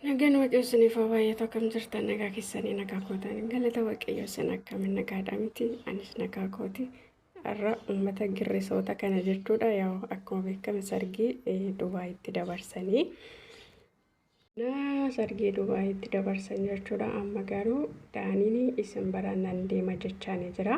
Nagaan waaqayyo isiniif haa baay'atu akkam jirtan nagaa keessanii nagaa kootan galata waaqayyo isin akkamiin nagaadha miti anis nagaa kooti har'a uummata girrisoota kana jechuudha yaa akkuma beekame sargii Dubaayitti dabarsanii Naa sargii Dubaayitti dabarsan jechuudha. Amma garuu Daaniin isin bira nan deema jechaanii jira.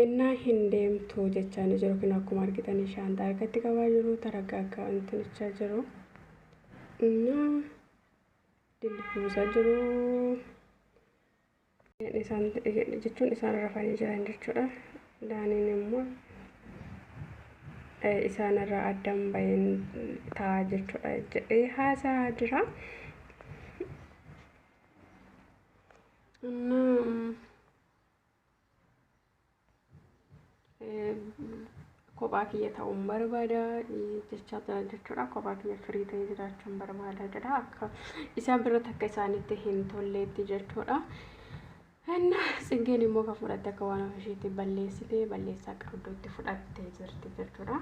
Innaa hin deemtu jechaanii jiru kun akkuma argitanii shaantaa harkatti qabaa jiru taraggaaggaa intinichaa jiru. Innaa dilbuusaa jiru. isaan jechuun isaan rafanii jiran jechuudha. Daaniin immoo eh, isaan irraa addan baheen ta'a jechuudha jedhee haasaa jira. እና kophaa kiyya ta'uun barbaada jechaa jira jechuudha. Kophaa kiyya firii ta'ee jiraachuun barbaada jedha. Akka isaan biratti akka isaanitti hin tolleetti jechuudha. Hanna tsingeen immoo kan fudhatte akka waan ofisheetti balleessite balleessaa qabduutti fudhattee jirti jechuudha.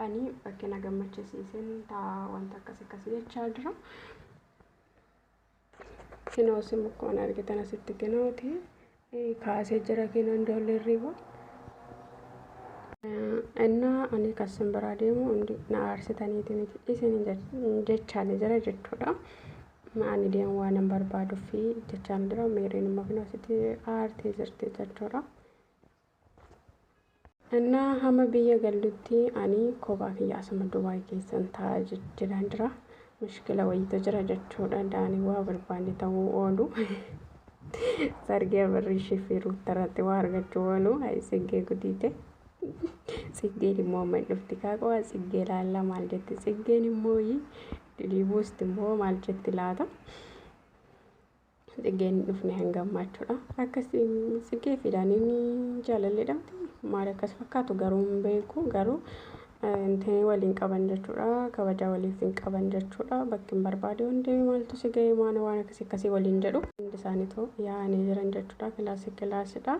Ani bakkee na gammachiisiisin ta'a wanta akkas akkasii jechaa jira. Kinoo isin mukkuma argitan asitti kinooti kaasee jira kinoon doollarrii kun. Innaa ani kan isin biraa deemu hundi na aarsitaniiti miti isin jechaan jira jechuudha. Ani deemu waan hin barbaaduuf jechaan jira meeriin immoo kinoo asitti aartee jirti jechuudha. Ennaa hama biyya gallutti ani kophaa kiyya asuma Dubaay keessan taa'a jedhaan jira. Mushkila wayiitu jira jechuudha. Daanii waa barbaanne ta'uu oolu. Sargii Abarriishii fi Ruuttarratti waa argachuu oolu. Hayi Tsiggee gudiite. Tsiggeen immoo amma hin dhufti kaaqo'a. Tsiggee laalla maal jetti? Tsiggeen immoo dilii buusti immoo maal jetti laata? Tsiggeen hin dhufne hanga ammaachuudha. Akkas tsiggee fi daaniin jaalalleedha. Maal akkas fakkaatu garuu hin beeku garuu intee waliin qaban jechuudha. Kabajaa waliif hin qaban jechuudha. Bakki hin barbaade hundi maaltu si ga'e maana waan akkasii akkasii waliin jedhu. Hundi isaaniitu yaa'anii jiran jechuudha. Kilaasii kilaasidha.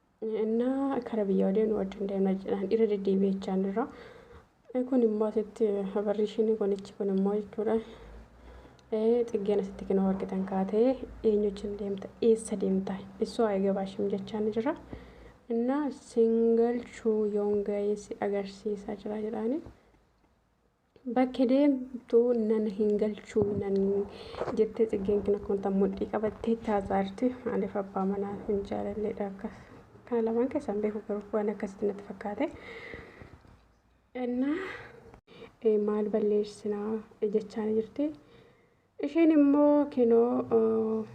Innaa kara biyyaa deemnu wajjin deemna jedhaan irra deddeebi'ee jechaan irra. Kun immoo asitti barri ishiin kunichi kun immoo jechuudha. Xiggeen asitti kinoo argitan kaatee eenyu wajjin deemta eessa deemta isoo haa eegaa baashim jechaan jira. Innaa single chuu yoon ga'ee si agarsiisaa jira jedhaani. Bakke deemtu nan hin galchu nan jettee tsiggeen kin akkuma tan mudhii qabattee itti haasaarti. Maaliif abbaa manaa hin jaalalleedha akkas. Kana lamaan keessaan beeku garuu waan akkasitti natti fakkaate. Innaa eh, maal balleessinaa eh, jechaan jirti. Isheen immoo kinoo eh,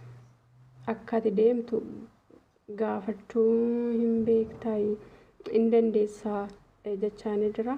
akka ati deemtu gaafachuu hin beektaa hin dandeessaa eh, jechaan jira.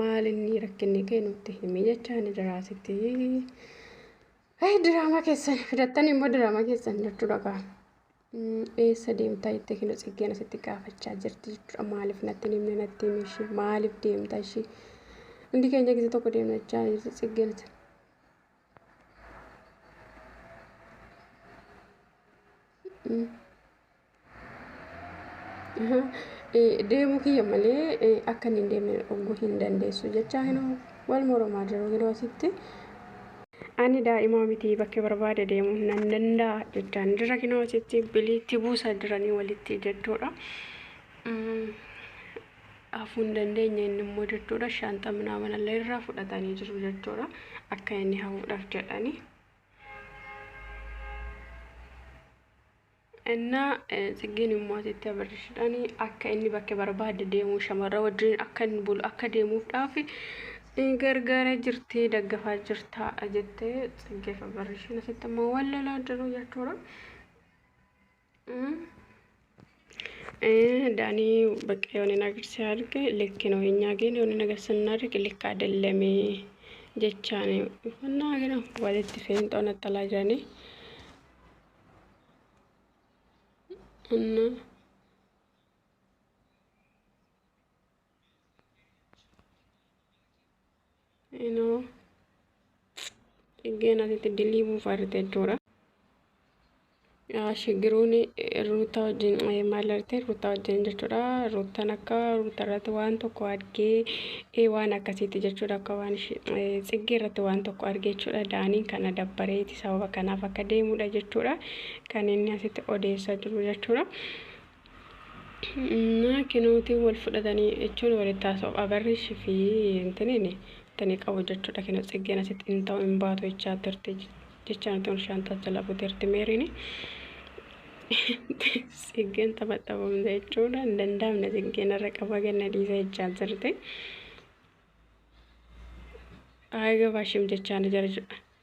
maal inni rakkinni kee nutti himi jechaa ni jiraa sitti. Hey, diraamaa keessan fidattan immoo diraamaa keessan jechuudha kaa. Mm, Eessa deemtaa jettee kinu tsiggeen asitti gaafachaa jirti jechuudha. Maaliif natti hin himne natti himi ishee maaliif deemta ishee. Hundi keenya gisa tokko deemna jechaa jirti tsiggeen asitti. Mm. Deemuu kiyya malee akka inni hin deemne dhorkuu hin dandeessu jechaa hin wal mormaa jiru yeroo asitti. Ani daa'imaa miti bakkee barbaade deemuu nan danda'a jechaan jira kinoo asitti biliitti buusaa jiranii walitti jechuudha. Hafuu hin dandeenye inni immoo jechuudha shaanxa minaaman illee irraa fudhatanii jiru jechuudha akka inni hafuudhaaf jedhanii. Ennaa Tsiggeen immoo asitti Abarrishidhaan akka inni bakka barbaade deemu shamarra wajjin akka inni bulu akka deemuufdhaaf gargaaraa jirti daggafaa jirta jettee Tsiggeef Abarrishiin asitti immoo wal lolaa jiru jechuudha. Daanii bakka yoon hin agarsiise arge likki noo hin nyaageen yoon hin agarsiise hin arge likka adellamee jechaan uffannaa gara walitti feenxoon attalaa jiranii. Anna. Inoo. Dhiggeen asitti dilii buufaate jechuudha. Shigiruun ruutaa wajjin maal arte ruutaa wajjin jechuudha. Ruutaan akka ruutaa irratti waan tokko argee waan akkasiiti jechuudha. Akka waan tsiggee irratti waan tokko argee jechuudha. Daaniin kana dabbareeti. sababa kanaaf akka deemudha jechuudha kan inni asitti odeessaa jiru jechuudha. Naa kinootiin wal fudhatanii jechuun walitti haasa'u abarrish fi intiniin tani qabu jechuudha kino tsiggeen asitti hin ta'u hin baatu jechaa turte jechaa nuti ol shaanxaa jala buteerti meeriin tsiggeen taphaxabamte jechuudha hin danda'amne tsiggeen irra qaba ganna dhiisa jechaa turte. Aaga baashim jechaa ni jira jechuudha.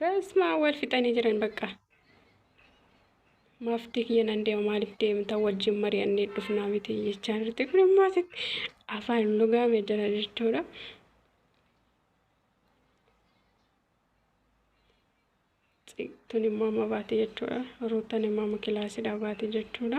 Basma wal fixanii jiran bakka. Maaftii kiyya nan deema maaliif deemta wajjin mari'annee dhufnaa miti jechaa jirti kun immoo afaan lugaame jira jechuudha. Tun immoo amma baate jechuudha. Ruutan immoo amma kilaasidhaa baate jechuudha.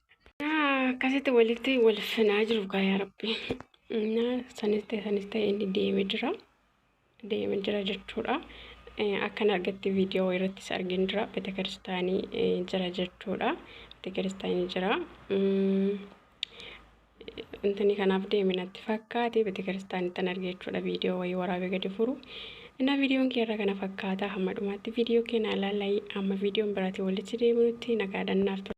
Akkasitti walitti wal finaa jiru kaa yaa rabbi. Innaa sanis ta'e sanis ta'e inni deeme jira. Deeme jira jechuudha. Akkan argetti viidiyoo irrattis argin jira. Beeta kiristaanii jira jechuudha. Beeta kiristaanii jira. intini kanaaf deeme natti fakkaate betekiristaanittan arge jechuudha viidiyoo wayii waraabee gadi furu innaa viidiyoon keerra kana fakkaata hamma dhumaatti viidiyoo keena ilaalai amma viidiyoon biraatiin walitti deebinutti nagaadhannaaf ture.